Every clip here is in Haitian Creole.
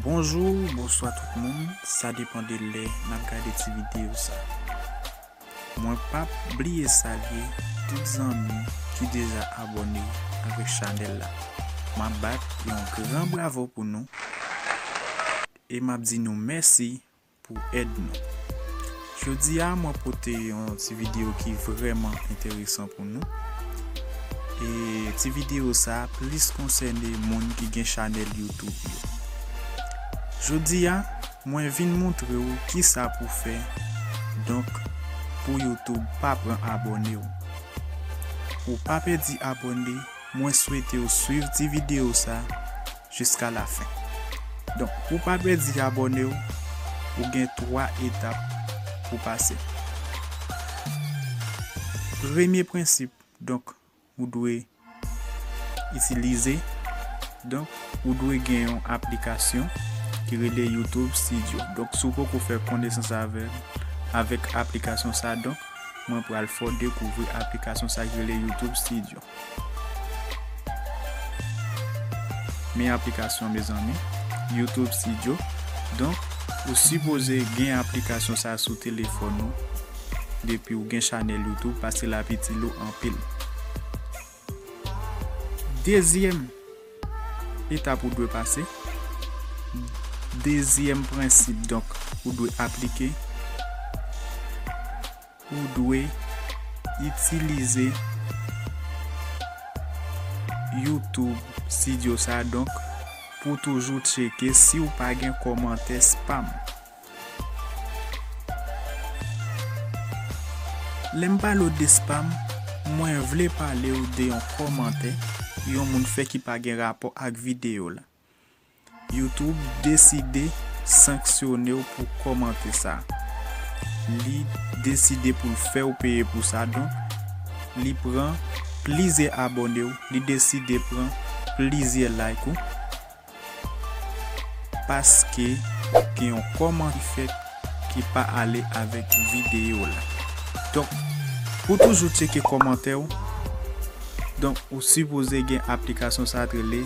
Bonjou, bonswa tout moun, sa depan de lè nan gade ti videyo sa. Mwen pa bliye salye tout zanmi ki deja abone avèk chanèl la. M ap bat yon gran bravo pou nou e m ap di nou mèsi. pou èd nou. Jodi a mwen pote yon ti video ki vreman enteresan pou nou. E ti video sa plis konsène moun ki gen chanèl YouTube yo. Jodi a mwen vin montre ou ki sa pou fè donk pou YouTube pa pran abòne ou. Ou pa pèdi abòne, mwen swete ou swiv ti video sa. jiska la fen donk pou pa pèdi abòne w ou gen 3 etap pou pase premye prensip donk ou dwe itilize donk ou dwe gen yon aplikasyon ki rele youtube studio donk si w poko fè konesans avèl avèk aplikasyon sa donk mwen pral fè w dekouvri aplikasyon sa ki rele youtube studio. Men aplikasyon mezanmi YouTube studio donk ou sipoze gen aplikasyon sa sou telefòn ou depiw gen chanèl YouTube paske lap itil ou anpil dezyèm etap ou dwe pase dezyèm prensip donk ou dwe aplike. Ou dwe itilize YouTube Studio sa donk pou toujou tcheke si ou pa gen kòmantè spam. Lè m pale w de spam, mwen vle pale w de yon kòmantè yon moun fè ki pa gen rapò ak videyo la. YouTube deside sanksyonew pou kòmante sa. Li deside poul fèw peye pou sa donk li pran plizyè abonew, li deside pran plizyè like ou paske gen yon kòmante ki fèt ki pa ale avèk videyo la. Donk pou toujou tcheke kòmantèw donk ou sipoze gen aplikasyon sa ki rele.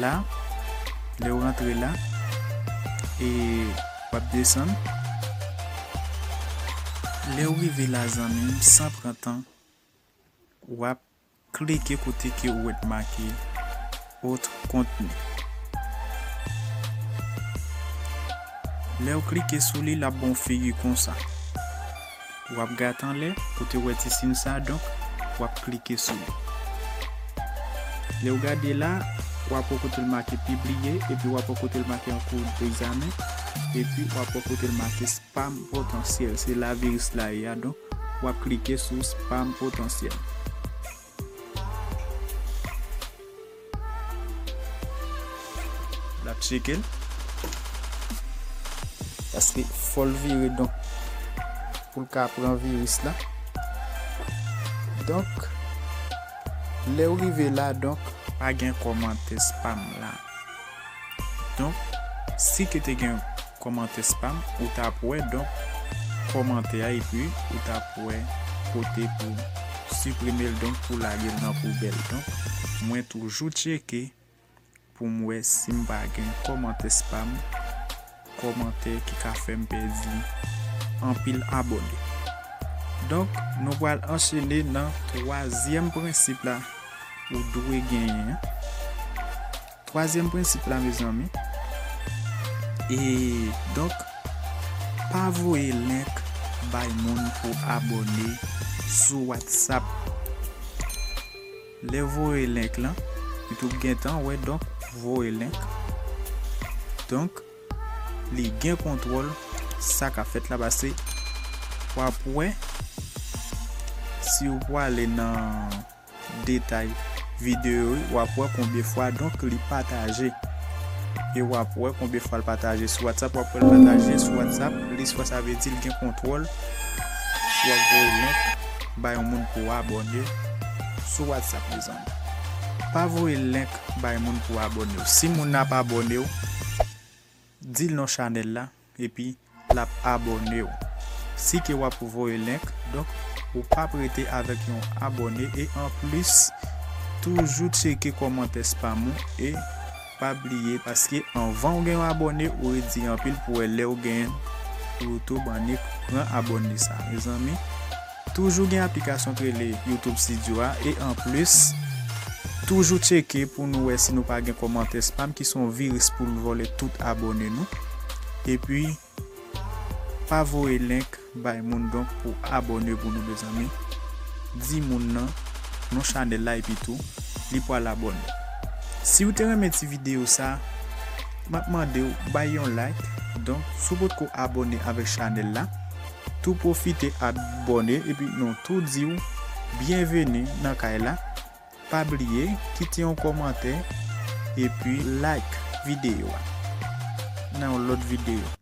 La, lè ou rantre la, e w ap desann. Lè ou rive la zanmi m, san pran tan, w ap klike kote ke ou wè t make Autre contenu. Lè ou klike sou li, l ap ba w figi konsa. Wap gat anlè pou te wè ti sin sa donk wap klike sou li. Lew gade la wap wè kotel make pibliye epi wap wè kotel make an kou degzamen epi wap wè kotel make spam potansyèl se la viris la ye a donk wap klike sou spam potansyèl. Lap tcheke l. Paske fol vire donk pou l ka pran viris la. Donk lew rive la donk. Pa gen komante spam la. Donk si ke te gen kòmantè spam ou tap wè donk kòmantè a epi ou tap wè kote pou siprimel donk pou lagel nan poubèl donk mwen toujou tcheke poum wè sim pa gen kòmantè spam. kòmantè ki ka fèm pèdi anpil abòne. Donk nou pral anchene nan twazyèm prensip la ou dwe genyen an. Twazyèm prensip la mezanmi e donk pa voye link bay moun pou abòne sou WhatsApp. Lè voye link lan u t gentan wè donk voye link donk li gen kontwòl sa kap fèt la pase wap wè si ou pwale nan detay video u wap wè konbyen fwa donk li pataje e wap wè konbyen fwal pataje sou whatsapp wap wèl pataje sou whatsapp plis fwa sa vle di li gen kontwòl si wap voye link. ba yon moun pou w abòne sou whatsapp mezanmi pa voye link bay moun pou abòne w si moun nan ap abòne w dil non chanèl la epi lap abòne w si ke wap voye link donk ou pap rete avèk yon abòne e anplis toujou tcheke kòmantè spam ou e Pa bliye paske anvan ou gen yon abòne ou redi anpil pou wè lèw gen YouTube annik pran abòne sa mezanmi toujou gen aplikasyon k rele YouTube studio a e anplis toujou tcheke pou nou wè si nou pa gen kòmantè spam ki son viris poul vòlè tout abòne nou epi Pa voye link bay moun donk pou abone pou nou mezanmi di moun nan non chanel la epi tou li pwal abone siw te renmen ti video sa map mandew bay yon like donk si w potko abone avèk chanel la tou pwofite abone epi nou tou diw byenveni nan kay la pa bliye kite yon kòmantè epi like video a nan yon lòt video.